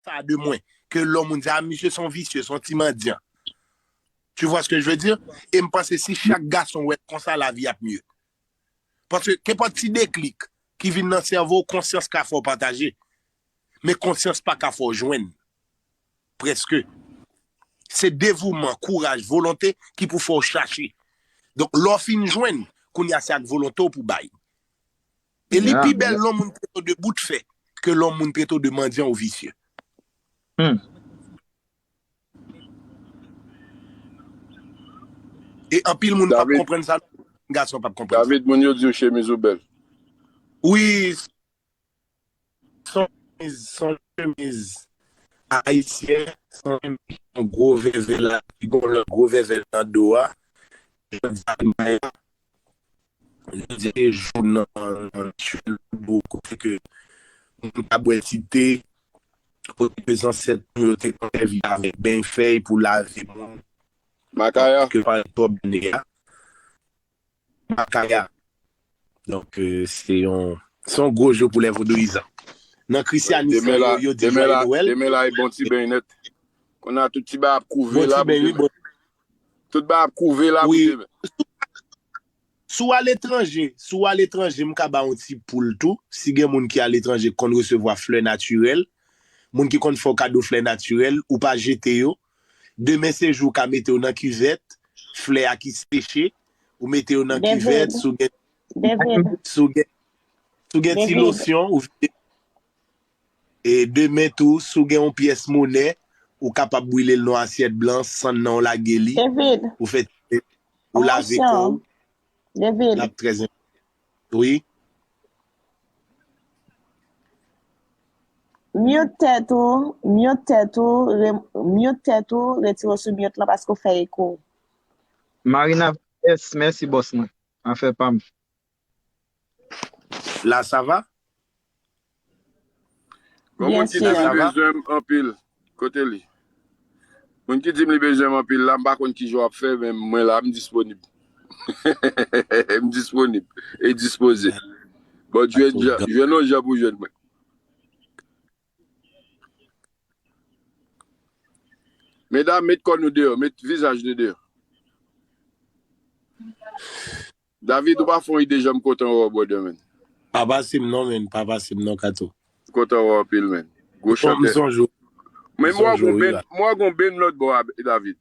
sa de mwen ke lò moun di a misye son visye, son ti mandyan. Tu vois ce que je veux dire? E m panse si chak gason wè l konsa lavi ap mye. Paske kenpòt ti deklik ki vin nan sèvo w konsyans ka fè w pataje. Men konsyans pa ka fè w jwenn. Prèske. Se devouman, kouraj, volonte ki pou fè w chache. Donk lè w fin jwenn, kounye a se ak volonte w pou bay. E li pi bèl lò moun trete w de bout fè ke lò moun trete w de mandyan ou visye. E anpil moun pap konprann sa non. Gason pap konprann sa. David, moun yo di w chemiz ou bèl. Wi. Son chemiz ayisyen san menm ki gen yon gwo vèvè la ki gen yon lòt gwo vèvè nan do a jan dyal maya jan di se jou nan rituel vodou kote ke moun ka bwè ti te kote ke zansèt nou yo te konn sèvi avèk beny fèy pou lave moun Makaya. ke pale twòp done a. Makaya. Donk se yon se yon gwo jou pou lè vodouyizan. Nan krisyanis lan yo yo di jwaye nowèl. Demen la e bon ti beny nèt. Kounye a tout ti bagay ap kouve la pou demen. Tout bagay ap kouve la pou demen. Si w aletranje, si w aletranje m ka ba w yon ti poul tou, si gen moun ki aletranje ki konn resevwa flè natirèl, moun ki konn fè w kado flè natirèl, ou pa jete yo, Demen se jou w ka mete yo nan kivèt, flè a ki seche, ou mete yo nan kivèt, si w gen si w gen si w gen ti losyon ou vide e demen tou si w gen yon pyès monè ou kapab brile l nan yon asyèt blan sann nan ou lage li ou fè ti ou lave kò w l ap trè enpòtan. wi. Mute tèt ou, mute tèt ou, mute tèt ou, retire w sou mute lan paske w fè eko. Marina vs mèsi bòs mwen, afè pam. La ça va? Bon moun ki dim li bezwenm anpil kote li moun ki dim li bezwenm anpil la m pa konn kijan wap fè men mwen la m disponib m disponib e dispoze bon jwenn on jan pou jwenn mwen. Medam met kò nou deyò met vizaj nou deyò. David ou pa fon ide janm kontan wè w brother man. Pa pase m non menn pa pase m non kato. M kontan wè w anpil menn. Gwo chantè. Men m wè gon benn lòt bò a David.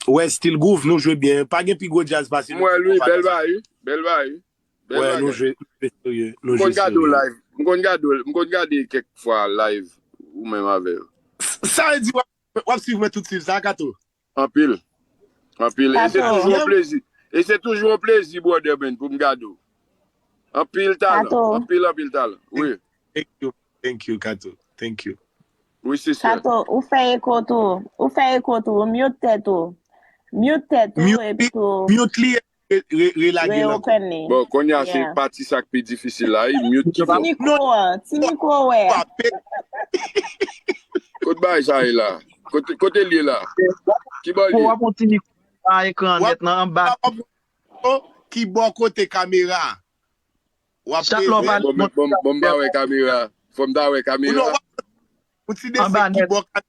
Wè stil groove nou jwe byen pa gen pi gwo djaz pase nou ki konpa nan sa. Bèl bagay wi bèl bagay. Wè nou jwe serye nou jwe serye. M konn gade w live m konn gade kèk fwa live ou menm avè yo. Sa vle di wap swiv mwen tout swiv sa kato. Anpil. Anpil. E se toujou yon plezi. E se toujou yon plezi brother Ben pou m gade w. Anpil talan. Anpil anpil talan. Wi. Thank you. Thank you Kato. Thank you. Wi sister. Kato ou fè eko tou. Ou fè eko tou. Ou mute tèt ou. Mute tèt ou epi tou. Mute li Relage l ankò. Bon konnya se pati sa k pi difisil la wi mute ki fò. Ti mikwo wè a. Kot bagay sa ye la? Kote l ye la? Ki bò l ye? Pou w ap wè ti mikwo anba ekran an nèt nan anba. Ki bò kote kamera a? Bon m pa wè kamera. Fò m ta wè kamera. Ou ti deside ki bò kamera.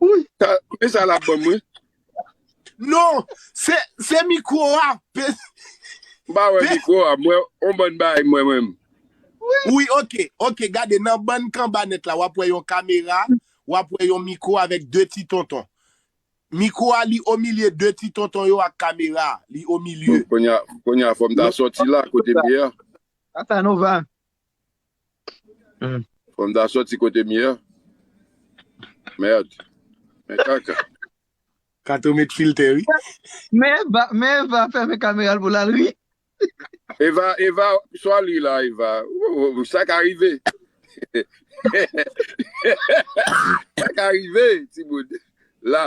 Wouyy sa koute sa lap banm wi. Non se se mikro a pe. M pa wè mikro a m wè on bann bagay m wè mwen menm. Wi ok ok gade nan bann kanba nèt la wap wè yon kamera wap wè yon mikro avèk 2 ti tonton mikro a li omilye 2 ti tonton yo ak kamera a li omilye. Bon kounya kounya fòm ta sòti la kote m ye a. Casanova Fòm ta soti kote m ye a. Merd. Men kaka. Kato met filtè wi. Men Eva, men Eva fèmen kameral pou lal ri. Eva, Eva swa li la Eva. Ooh sa ka rive. Sa ka rive timoun. La.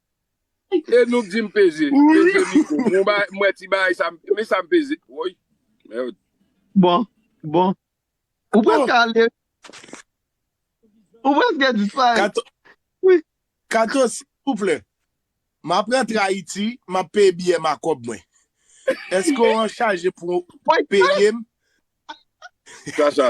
E nou k di m peze, peze mikro m m wè ti bagay sa men sa m peze woy merd. Bon bon ou preske ale ou preske disparèt wi. Kato silvouplè map rantre ayiti map peye biyè m a kòb mwen eske w anchaje pou w peyem. Sa sa.